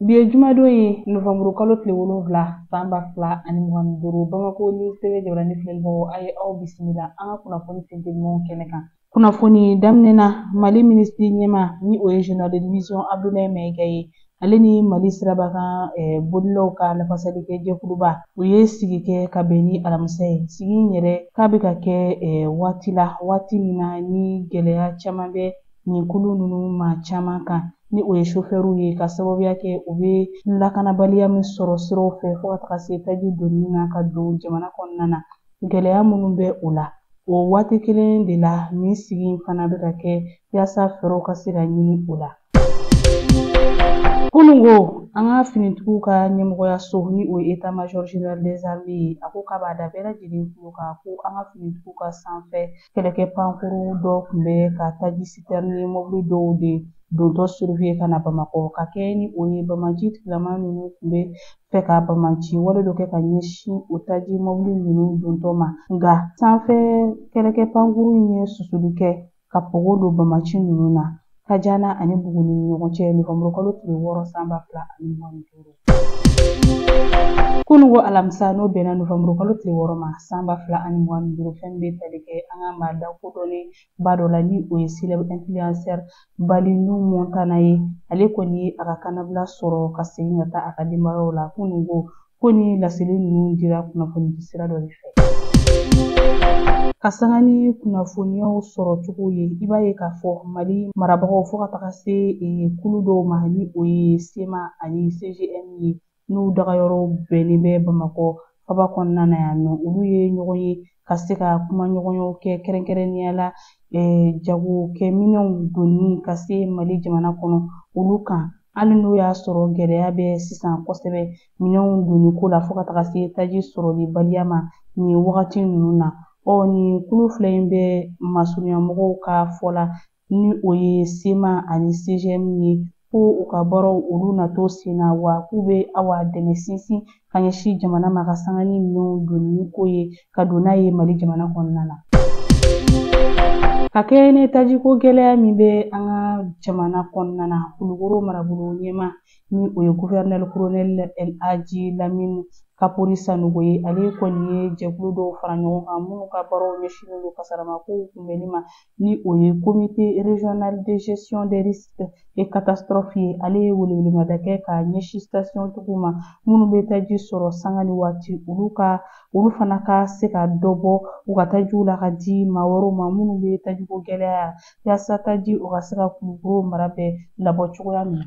Bi ye jumadon ye nowanburu kalo tile wolonwula san ba fila ani mugan ni duuru bamakɔ ni TV jabaranin filɛbagaw a ye aw bisimila an ka kunnafoni sentelimanw kɛnɛ kan kunnafoni daminɛ na mali minisiri ɲɛmaa ni o ye général de division abdoulaye mayiga ye ale ni mali siraba kan eh, bolilaw ka lafasali kɛ jɛkuluba u ye sigi kɛ ka bɛn ni alamisa ye sigi in yɛrɛ k'a bɛ ka kɛ eh, waati la waati min na ni gɛlɛya caman bɛ nin kulu ninnu maa caman kan ni o ye sofɛriw ye ka sababuya kɛ u bɛ lakanabaliya min sɔrɔ siraw fɛ fo ka taga se taji donni na ka don jamana kɔnɔna na gɛlɛya minnu bɛ o la o waati kelen de la nin sigi in fana bɛ ka kɛ yaasa fɛɛrɛw ka se ka ɲini o la kunungo an ka finitigiw ka ɲɛmɔgɔyaso ni o ye etat major general des armées ye a ko k'a b'a da bɛɛ lajɛlen tulo kan ko an ka finitigiw ka sanfɛ kɛlɛkɛ pankuru dɔw tun bɛ ka taji sitɛrini mɔbili dɔw de dontɔ surveiller ka na bamakɔ ka kɛɲɛ ni o ye banbaanci tigilamaa ninnu tun bɛ fɛ ka banbaanci wale dɔ kɛ ka ɲɛsin o taji mɔbili ninnu dontɔ ma nka sanfɛ kɛlɛkɛ pankuru in ye susuli kɛ ka pogo don banbaanci ninnu na Kajana ani Buguni ni ɲɔgɔn cɛ nowanburu kalo tile wɔɔrɔ san ba fila ani mugan ni duuru. Kunungo alamisa n'o bɛnna nowanburu kalo tile wɔɔrɔ ma san ba fila ani mugan ni duuru fɛn bɛ tali kɛ an ka maa lakodɔnnen ba dɔ la ni o ye célèbre influenceur Balinu Montana ye ale kɔni ye a ka kannabila sɔrɔ ka segin ka taa a ka denbayaw la kunungo kɔni laseli ninnu dira kunnafoni di sira dɔ de fɛ ka sanga ni kunnafoniyaw sɔrɔ cogo ye i b'a ye k'a fɔ mali marabagaw fo ka taga se e, kulu dɔw ma ni o ye cma ani cgm ye n'u dagayɔrɔw bɛnnen bɛ bamakɔ faba kɔnɔna na yan nɔ olu ye ɲɔgɔn ye ka se ka kumaɲɔgɔnyaw kɛ kɛrɛnkɛrɛnnenya la jagokɛminɛnw donni ka se mali jamana kɔnɔ olu kan hali n'o y'a sɔrɔ gɛlɛya bɛ sisan kosɛbɛ minɛnw donni ko la fo ka taga se taji sɔrɔlibaliya ma nin wagati ninnu na ɔ nin kulu fila in bɛ masurunya mɔgɔw ka fɔ la ni o ye CMA ani CGM ye ko u ka baaraw olu na to sen na wa k'u bɛ aw dɛmɛ sinsin ka ɲɛsin jamana ma ka sanga ni minɛnw donni ko ye ka don n'a ye Mali jamana kɔnɔna na. Ka kɛɲɛ ni tajiko gɛlɛya min bɛ an ka jamana kɔnɔna na, Kulukoro marabolo ɲɛmaa ni o ye Guvɛrinɛri Kolonɛli El Hadji Lamini Kapori Sanogo ye, ale kɔni ye jɛkulu dɔw fara ɲɔgɔn kan minnu ka baaraw ɲɛsinnen don kasaramako kunbɛnni ma ni o ye comité régional de gestion des risques et catastrophes ye ale ye welewelemada kɛ ka ɲɛsin station tigiw ma minnu bɛ taji sɔrɔ sanga ni waati olu fana ka se ka dɔ bɔ u ka tajiw la ka di maa wɛrɛw ma minnu bɛ tajiko gɛlɛya yaasa taji o ka se ka kulukoro mara bɛɛ labɔ cogoya min na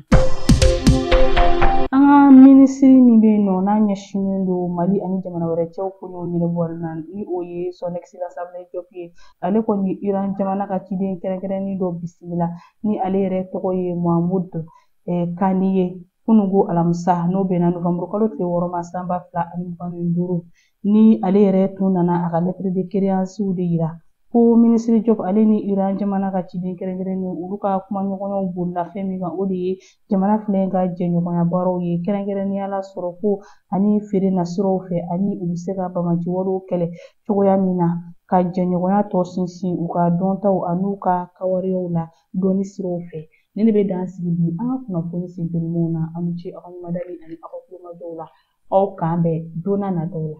an ka minisiri min bɛ yen nɔ n'a ɲɛsinnen don mali ani jamana wɛrɛ cɛw koɲɛw ɲɛnabɔli la ni o ye son excellence Abdoulaye Diop ye ale kɔni ye iran jamana ka ciden kɛrɛnkɛrɛnnen dɔ bisimila ni ale yɛrɛ tɔgɔ ye mahamudu kani ye kununko alamisa n'o bɛnna novanburu kalo tile wɔɔrɔ ma san ba fila ani mugan ni duuru ni ale yɛrɛ tun nana a ka lettre de créancew de yira ko minisiri Diop ale ni Iran jamana ka ciden kɛrɛnkɛrɛnnen olu ka kumaɲɔgɔnyaw bolila fɛn min kan o de ye jamana fila in ka jɛɲɔgɔnya baaraw ye kɛrɛnkɛrɛnnenya la sɔrɔko ani feere nasiraw fɛ ani u bɛ se ka banbaanci walew kɛlɛ cogoya min na ka jɛɲɔgɔnya tɔ sinsin u ka dɔntaw an'u ka kɛwalew la dɔnni siraw fɛ nin de bɛ dan sigi bi an ka kunnafoni sentelimanw na aw ni ce aw ka ɲɛmadali ani aw ka tulomajɔw la aw k'an bɛn don n'a nataw la